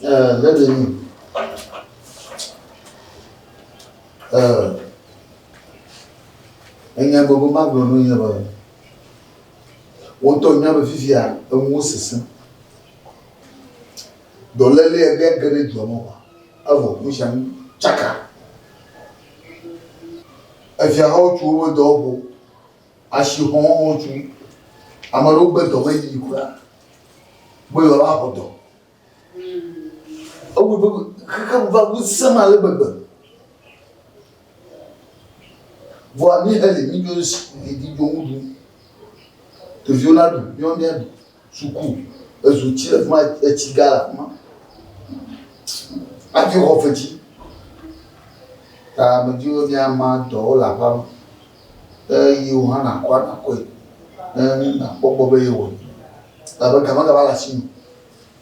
Uh, let me know. Uh, enya gbogbo ma gblɔ nu nye be wotɔ nya be fifia enuwo sese dɔléle ege ge ɖe dua me wa evɔ nu sia nu tsaka efiahawo tso woƒe dɔwɔƒewo Asixɔxɔ dzi. Ame aɖewo gbe dɔ ƒe yiyi kura be yewoaxɔ dɔ. Ewɔe be xexea me va ŋusẽ me ale gbegbe. Vɔa míexeli, mídzo ɖe si ɖi dzo ŋu ɖum. Ɖeviwo naɖu, míawo míaɖu. Suku ezu tsi le fi ma etsi gã le afi ma hafi wɔ fetsi ta medi be míama dɔwo le aƒea me ne yiwo hã nakɔ nakɔe ne nakpɔ gbɔ be yewɔe elabe gamagama le asi me.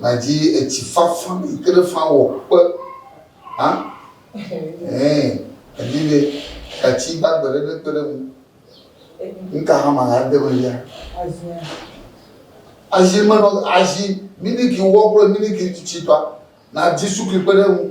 Madzi etsi fafã yi ke ne fã wɔ kpe hã. Ɛɛ, èdi be gatsi gbagbe ɖe nekpe ɖe ŋu. Nu ka hã ma ade eme fia? Azi me nɔ azi miliki wɔ kple miliki tsitsi tɔa, nàdi sukli kpe ɖe eŋu.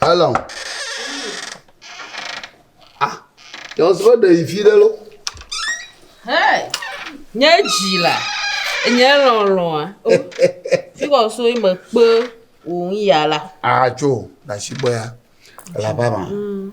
Hello. Ah, yɔ sɔ ɖe yi fi ɖe lo. Hey, nye dzi la, nye lɔlɔa. Fi kɔ so yi me kpe wò ŋu ya la. Atso, na si gbɔ ya. Elabama. Mm.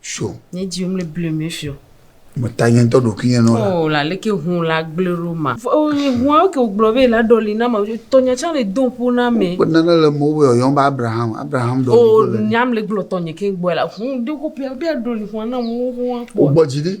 Sure. Nye dzi womle blue me fio. Me ta nye ŋutɔ ɖokui nye nɔ la. Oh, la leke hun la gble ɖo ma. Oh, nye hua ke wogblɔ be la ɖɔli na ma. Tɔnya tsã le do ƒo na me. Kpe nane le mo be yɔyɔm be Abraham. Abraham ɖɔli oh, ko le. Oh, nyam le gblɔ tɔnye ke gbɔ la. Hun de ko pia be aɖɔli hua na mo hua kpɔ. Wogbɔ dzi ɖi.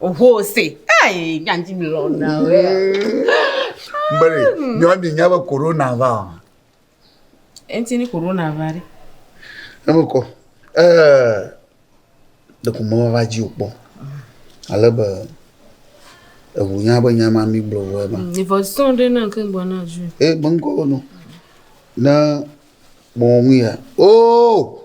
Oho se. Hey, nyanji mi lɔ na o. Mbere, nyɔ di nya be corona va o. Enti ni corona va re. Eme ko. Eh. De ko mo va ji o po. Ale be ebu nya be nya ma mi blo wo ma. Ni vo son de na ke bo na ju. Eh, bon ko no. Na bon ya. Oh!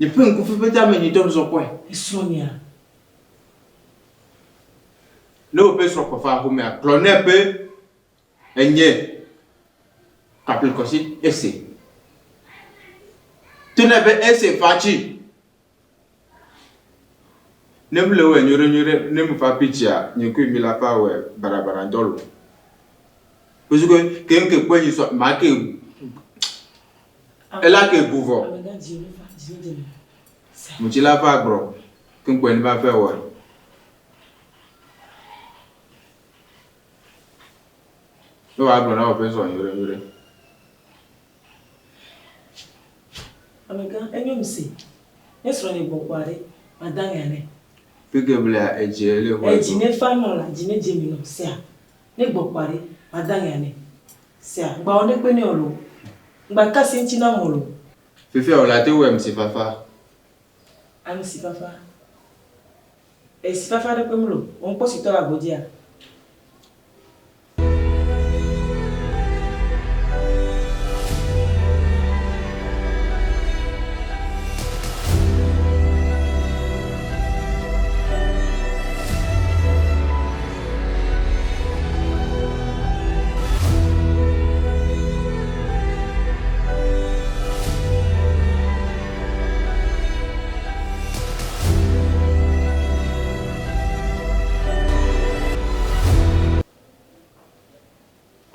Nye ƒe ŋku fefe dze ame nyuitɔ zɔ kpɔe. Esrɔ̃nyea. Ne woƒe srɔ̃ kpɔ va aƒemea, gblɔ nɛ be, Enye kaplikɔsi esi. To nɛ be esi fa tsi. Ne mele wɔe nyuiɖenyuiɖe, ne mefa kpi tsia, nye kple mi la fa wɔe baɖabaɖadɔ lo. Wosukɔe keŋkeŋ kpɔe nyi sɔ make. Ela ke gu vɔ. Mutsi la va gbrɔ keŋkpɔe ni va fɛ wɔe. Ne wàá gblɔ na wò ƒe sɔ nyuiɖe nyuiɖe. Amegã, enyo ŋse. Ne srɔ̃ nye gbɔ kpɔa ɖe, mada ŋea nɛ. Fike blea edzi ele xɔe do. Edzi ne fa nɔ la, dzi ne dze mi nɔ sea. Ne gbɔ kpɔa ɖe, mada ŋɛ anɛ. Sea, ŋgba wɔ ŋɖekpe nɛ o loo. Ŋgba ka asi ŋuti nam o loo. Fifia wòle ate ŋu wɔ amesifafa. Amesifafa. Esifafa ɖe kpe mloo. Wò ŋkpɔsitɔ le agbodea?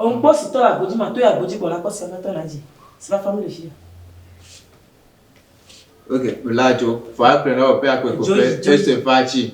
Onkpɔ si tɔ le agbo dzi ma tɔe agbo dzi gbɔ la kpɔ si aƒetɔ la dzi si va fa nu le fia. Ok, la jo, fa akplɛ na wɔ pɛ akpɛ ko pɛ, ese fa ci.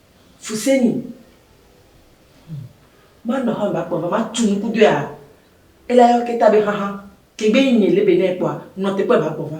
Fu se ni. Hm. Manɔ xɔn ba kpɔn va ma tu nuku doe a ela yɔ ke ta be xaxa. Ke gbe yi nye le be ne kpɔa nɔ te kpɔe ba kpɔn va.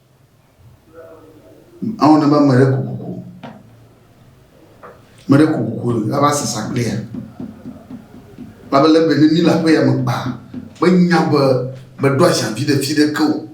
Awo ne ba mere kukuku. Mere kukuku la ba sasa kpea. Ba bele be ni la pe ya me ba. Be nya be be do asha fi de fi de ke o.